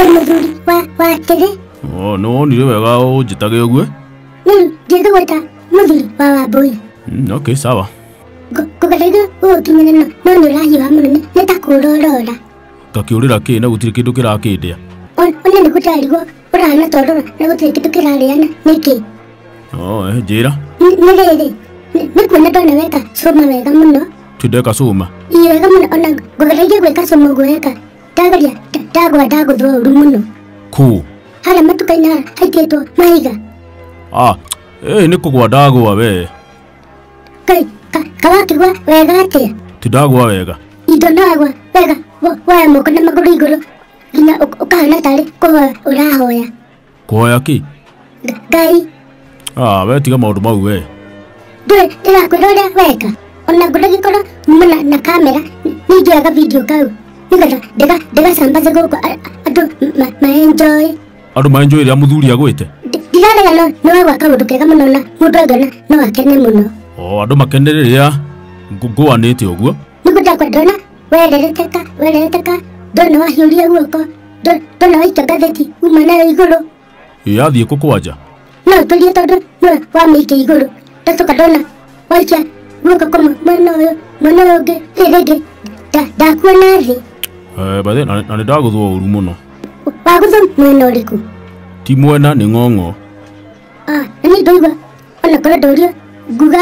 Ĩ mũthuri wa wa kĩrĩ. Ũ, nĩ wonire wega ũnjĩtage ũguo Rĩu ndĩthũgũta mũthuri wa wambũi. Mm, okay sawa Kũgereire gũgũkinyĩra no no nĩ ũrahiũha mũno nĩ- nĩ ta kũũra ũrora. ngakĩũrĩra kĩ na gũtirĩ kĩndũ kĩrakĩndĩa Ona ona nĩ gũtarigwo ũrahana ta ũrora na gũtirĩ kĩndũ kĩrarĩana nĩkĩ. Ũ, eh, njĩra Nĩ- Nĩ rĩrĩ nĩ- nĩ kuona ndona weka cũma wega mũno. tindeka cuma Ii wega mũno ona ngũgereire gwĩka cũma ũguo weka ndageria nda- ndagwa ndagũthwo ũru mũno kũ harĩa matuka-inĩ ha- haitĩtwo mahiga ah ĩĩ nĩ kũgwa ndagwa we kai ka- kawakĩgwa wega atĩa ti ndagwa wega indo ndagwa wega wo- woya moko na magũrũ igũrũ nginya ũk- ũkahana tarĩ kũhoya ũrahoya kũhoya kĩ ngai ah, we tiga maũndũ mau we ndũrĩ ndĩrakwĩra ũrĩa weka ona ngũragĩkorwo nyuma na, na kamera nĩnjoya gabidio kau nĩgetha ndĩga ndĩgacambaze gũkũ a- andũ ma- maenjoĩ andũ maenjũĩ rĩa mũthuri agwĩte Ndi- ndirarega no nĩ wagwa kaũndũ kega mũno na mũndũ angĩona no akene mũno o andũ makenere rĩrĩa ngũanĩte ũguo nĩ mũndakwa ndona wererete ka wererete ka ndona wahiũria guoko ndo- ndona waika ngatheti uma nayo igũrũ yathiĩ kũ kwanja no ũtũrie tondũ nĩ wamĩikia igũrũ ndacoka ndona waikia guoko kũmwe mwena ũyũ mwena ũyũ ũngĩ rĩrĩ rĩngĩ nda- ndakuona thĩ Eh, by the way, na na nĩ ndagũthwo ũru mũno wagũtha mwena ũrĩkũ ti mwena nĩ ng'ong'o Ah, na nĩ ndaigua ona korwo ndũrio nguga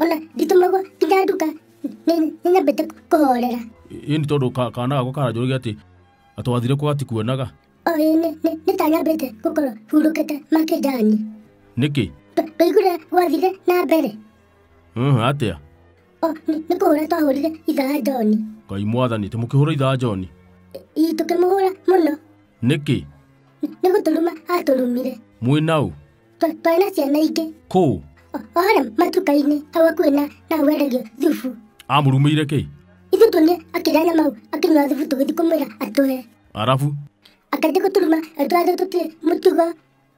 ona nditũmagwo nginya nduka nĩ- nĩnyambĩte kũhorera ĩni tondũ ka- kana gako karanjũrage atĩ atwathire kwa ati kuonaga o ĩ nĩ- nĩ- nĩtanyambĩte gũkorwo hurũkĩte makĩnjani nĩkĩ ndũigure gwathire na mbere Mhm, atĩa o nĩ- nĩ kũhũra twahũrire ithaa njoni ngai mwathani tĩ mũkĩhũra ithaa njoni ii tũkĩmũhũra mũno nĩkĩ nĩ gũtũruma atũrumire mwĩnaũ twarĩ na ciana ingĩ kũu o o harĩa matuka-inĩ hau hakuhĩ na na hau endagio thubu amũrumĩire kĩ ithuĩ tuonire akĩrĩa nyama hau akĩnyua thubu tũgĩthiĩ kũmwĩra atũhe arabu akajya gũturuma twathĩ tũtirĩ mũtugo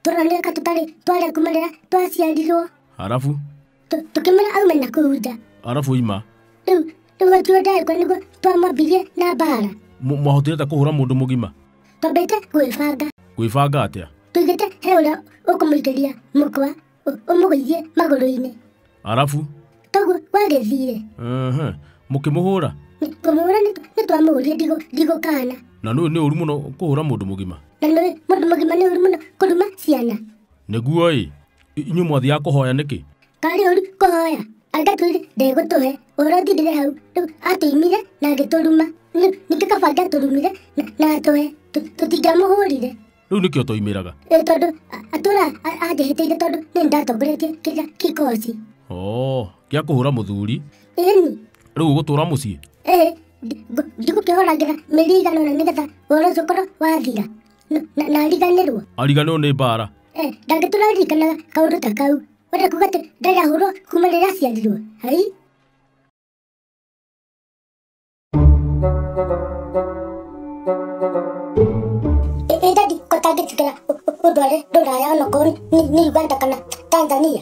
tũroneka tũtarĩ twarĩa kuma rĩrĩa twaciarirwo arabu tũ- tũkĩmwĩra aume na kũu nja arabu ima rĩu rĩu atuo ndagĩkwa nĩguo twamwambirie na mbaara Mũ- mwahotire ata kũhũra mũndũ mũgima twambĩte gwĩbanga gwĩbanga atĩa tũigĩte he ũrĩa ũkũmũikĩria mũkwa ũ- ũmũgũithie magũrũ-inĩ arabu toguo gwagĩthire ehe, mũkĩmũhũra Nĩ- ngũmũhũra nĩ- nĩ twamũhũrire ndigũ- ndigũkana na nĩ nĩ ũru mũno kũhũra mũndũ mũgima na nĩ mũndũ mũgima nĩ ũru mũno kũruma ciana Nĩguo-ĩ, inyuĩ mwathiaga kũhoya nĩkĩ? Karĩ ũru kũhoya, anga twĩrĩ ndegũtũhe, ũhoro ũthirĩre hau, rĩu atũimire na agĩtũruma, rĩu ningĩ kaba angĩatũrumire na, na atũhe, tũ- tũtingĩamũhũrire. Rĩu nĩkĩ ũtoimĩraga? Ĩ, tondũ a- atũra a- anjĩhĩtĩire tondũ nĩ ndatongoretie kĩrĩa kikoci Oo, gĩa kũhũra mũthuri, ĩni rĩu ũgũtũũra mũciĩ? ĩ njũkĩhoragĩra mĩrĩ igana ũna nĩgetha ũhoro ũcio ũkorwo wathira Na- na- nariganĩrwo ariganĩrwo nĩ mbaara Eh, ndangĩ tũraririkanaga kaũndũ ta kau wenda kuga atĩ ndarahũrwo kuma rĩrĩa aciarirwo ai Ĩ- ĩ ndandi ko tangĩtigĩra ũndware ndũraya onokorwo nĩ nĩ uganda kana tanzania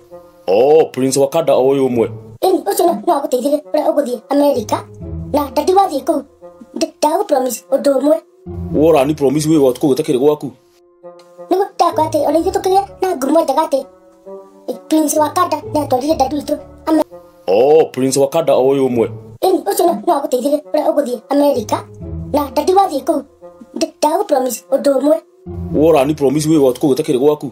oh prince wakanda o uyu umwe Ĩni ũcio no no agũteithĩrĩrie ũrĩa ũgũthiĩ Amerika na ndati wathiĩ kũu Ndi- ndagũpromise ũndũ ũmwe wora ni promise wi gwatu kugita kiri gwaku nĩguo ndakwa atĩ ona ithuĩ tũkĩgĩa na ngurumo njega atĩ Prince Wakanda nĩatwarire ndati witũ Amerika oh prince wakanda o uyu umwe Ĩni ũcio no no agũteithĩrĩrie ũrĩa ũgũthiĩ Amerika na ndati wathiĩ kũu Ndi- ndagũpromise ũndũ ũmwe wora ni promise wi gwatu kugita kiri gwaku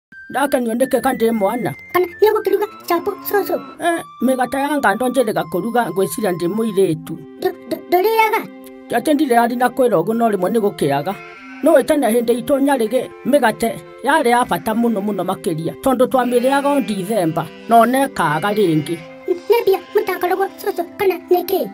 ndake nyoneke ka ndĩ mwana kana nĩ gũkĩruga chapo cũcũ Eh, mĩgata ya ngando njĩrĩga kũruga ngwĩciria ndĩ mũirĩtu Ndũ- ndũ- ndũrĩaga atĩ ndirĩ arĩ na kwĩra ũguo no rĩmwe nĩ gũkĩaga no wĩtane hĩndĩ itũ nyarĩgĩ mĩgate yarĩ ya bata mũno mũno makĩria tondũ twamĩrĩaga o ndithemba no nekaga rĩngĩ nĩ mbia mũtakoragwo cũcũ kana nĩ kĩĩ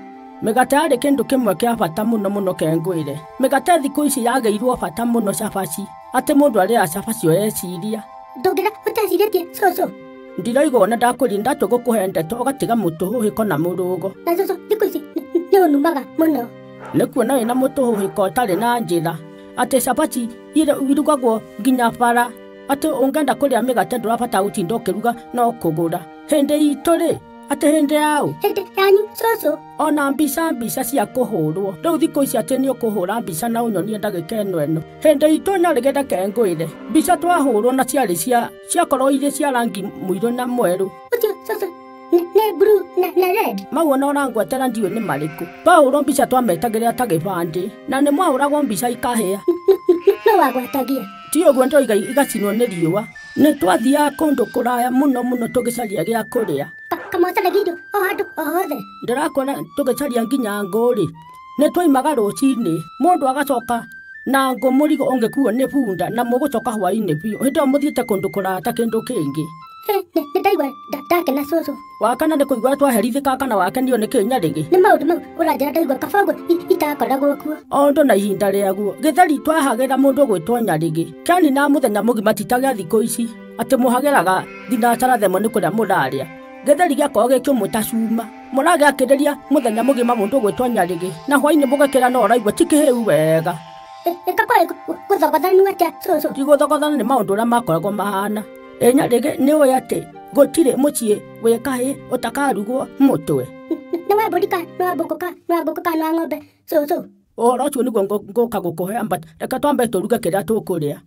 mĩgate yarĩ kĩndũ kĩmwe kĩa bata mũno mũno kengwĩre mĩgate thikũ ici yagĩirwo bata mũno cabaci Atĩ mũndũ arĩa acaba cio eciria. Ndũngĩra ũtecirĩtie cũcũ. Ndiraiga ona ndakũri ndatua gũkũhe ndeto ũgatiga mũtũhũhĩko na mũrũgo. Na cũcũ thikũ ici nĩ ũnumaga mũno. Nĩ kuona wĩna mũtũhũhĩko ũtarĩ na njĩra. Atĩ cabaci irugagwo nginya bara. Atĩ ũngenda kũrĩa mĩgate ndũrabata gũtinda ũkĩruga no kũgũra. Hĩndĩ itũ-rĩ, atĩ hĩndĩ yaũ hĩndĩ yanyu cũcũ ona mbica mbica cia kũhũrwo rĩu thikũ ici atĩ nĩ ũkũhũra mbica na ũnyonie ndagĩka ĩno ĩno hĩndĩ itũ na rĩgĩte kengwĩre mbica twahũrwo na ciarĩ cia ciakorwo irĩ cia rangi mũirũ na mwerũ ũcio cũcũ nĩ- nĩ blue na na red mau ona ũrangwetera ndiũ nĩ marĩkũ twahũrwo mbica twametagĩrĩra ta gĩbandĩ na nĩ mwahũragwo mbica ikahĩa nũ wagwatagia ti ũguo ndoiga igacinwo nĩ riũa nĩ twathiaga kũndũ kũraya mũno mũno tũgĩcaria gĩa kũrĩa kamotele gido o handũ o hothe ndĩrakuona tũgĩcaria nginya ngũrĩ nĩ twaimaga rũcinĩ mũndũ agacoka na ngũ mũrigo ũngĩkuo nĩ bunda na mũgũcoka hwainĩ biũ hĩndĩ ĩyo mũthiĩte kũndũ kũraya ta kĩndũ kĩngĩ Hĩ, nĩ nĩ ndaigua nda- ndakena cũcũ wa kana nĩ kũigua twaherithĩka kana wakenio nĩ kĩnya rĩngĩ nĩ maũndũ mau ũranjĩra ndaigua kaba ũguo i- itakoragwo kuo o ũndũ na ihinda rĩaguo gĩtheri twahagĩra mũndũ gwĩtwo nyarĩgĩ kĩani na mũthenya mũgima titagĩa thikũ ici atĩ mũhagĩraga thinacara themwe nĩ kũrĩa mũrarĩa gĩtheri gĩakorwo gĩkĩũmũ ta cuma mũragĩa kĩrĩria mũthenya mũgima mũndũ gwĩtwo nyarĩgĩ na hwainĩ mũgakĩra no ũraigua tikĩhĩu wega Ĩ- ĩka kwaĩ gũthogothanu atĩa cũcũ tigũthogothana nĩ maũndũ ũrĩa makoragwo mahana ĩnya rĩngĩ nĩ ũĩ atĩ gũtirĩ mũciĩ wĩ kahĩ ũtakarugwo mũtwe nĩ wa mbũri ka nĩ wa mbũkũ ka nĩ wa ngũkũ ka nĩ wa ng'ombe cũcũ ũhoro ũcio nĩguo ngũ- ngũka gũkũhe amba reke twambe tũruge kĩrĩa tũkũrĩa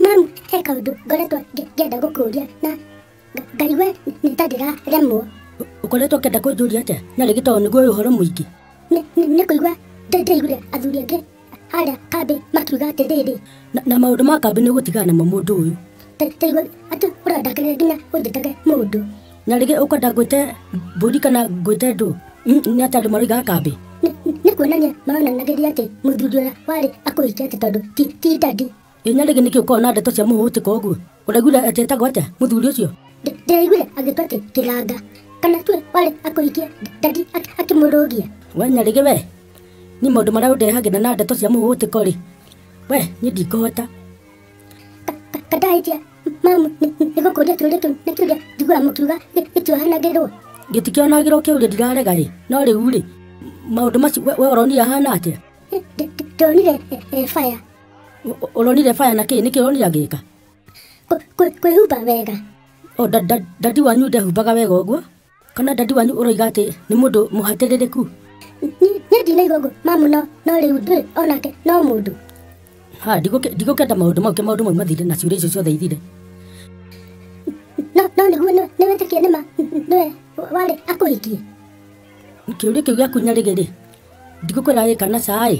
mami he kaũndũ ngoretwo ngĩ- ngĩenda gũkũria na nga- ngaigue nĩ ta ndĩraremwo ũkoretwo ũkĩenda kũnjũria atĩa na rĩngĩ tondũ nĩguo ũyũ ũhoro mũingĩ Nĩ- nĩ nĩ kũigua ndĩ- ndĩaiguire athuri angĩ harĩa kambĩ makiuga atĩrĩrĩ Na, na maũndũ ma kambĩ nĩ gũtigana namo mũndũ ũyũ. "Ta- ta igua atĩ ũrandakĩrĩria nginya ũnjĩtage mũndũ Na rĩngĩ ũkwenda ngwĩte mbũri kana ngwĩte ndũ. Mm, Nĩ atĩ andũ maroigaga kambĩ. Nĩ- nĩ kuonania maronanagĩria atĩ mũthuri ũrĩa warĩ akũhikia atĩ tondũ ti ti ndandi Ĩnya rĩngĩ nĩkĩ ũkorwo na ndeto cia mũhũtĩko ũguo? Ũraiguire atĩ etagwo atĩa mũthuri ũcio? Ndĩ- Ndĩraiguire agĩtwo atĩ kĩganga. Kana tuwe warĩ akũhikia ndandi ak- akĩmũrũgia. We nyarĩgĩ we, niĩ maũndũ marĩa ũndehagĩra na ndeto cia mũhũtĩko rĩ, we niĩ ndikũhota. Ka- ka- Kandahĩtia mamu nĩ- nĩ- nĩ gũkũria kĩũria kĩu nĩ kĩũria njiguaga mũkiuga gĩ- gĩtiohanagĩrwo. Gĩtikĩonagĩrwo kĩũria ndirarega rĩ, no rĩu rĩ, maũndũ macio we we ũronire ahana atĩa? Ndĩ- ndĩ- Ndonire eh, eh, baya. Ũronire baya na kĩĩ? Nĩkĩ ũronire agĩka? Kwĩhumba wega. O dadi wanyu ndehumbaga wega ũguo? Kana dadi wanyu ũroiga atĩ nĩ mũndũ mũhatĩrĩrĩku? Niĩ ndinaigua ũguo mamu no no rĩu ndĩ onake no mũndũ. Ha, ndigũkenda maũndũ mau ke maũndũ mau mathire na ciũria icio ciothe ithire. No no nĩguo nĩwĩtĩkia nĩma nĩwe warĩ akũhikie? Kĩũria kĩu gĩaku nyarĩgĩ rĩ, ndigũkwĩra ĩ kana ca ĩ?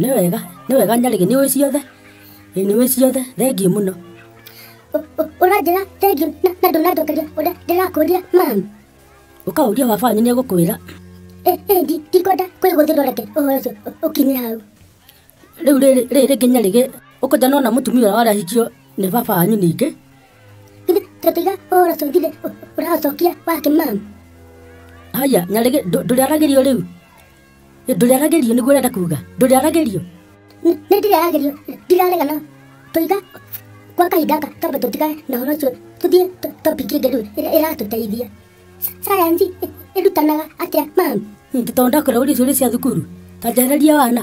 nĩ wega nĩ wega nyarĩge nĩ ũĩ ciothe Ĩ, nĩ ũĩ ciothe thengiũ mũno ũranjĩra thengiũ na na ndũnanjokeria ũrĩa ndĩrakũria mami ũkaũria wabanyu nĩ egũkwĩra Ĩ- ĩndi ndikwenda kwĩgũthĩrwo reke ũhoro ũcio ũ- ũkinye hau rĩu rĩrĩ rĩrĩ rĩngĩ nyarĩge ũkũja nona mũtumia ũrĩa warahikio nĩ baba wanyu ningĩ githĩ tũtiga ũhoro ũcio githĩ ũ- ũraũcokia wake mami haya nyarĩge ndũ- ndũrĩaragĩrio rĩu ndũrĩaragerio nĩguo ũrenda kuga ndũrĩaragerio nĩ ndĩrĩaragerio ndiraregana tũiga kwa kahinda gaka twambe tũtigane na ũhoro ũcio tũthiĩ to- topic ĩngĩ rĩu ĩrĩa ĩratũteithia sayansi ĩ- ĩrutanaga atĩa mami tondũ ndakwĩra ũrĩa ciũria cia thukuru ta njarĩria wana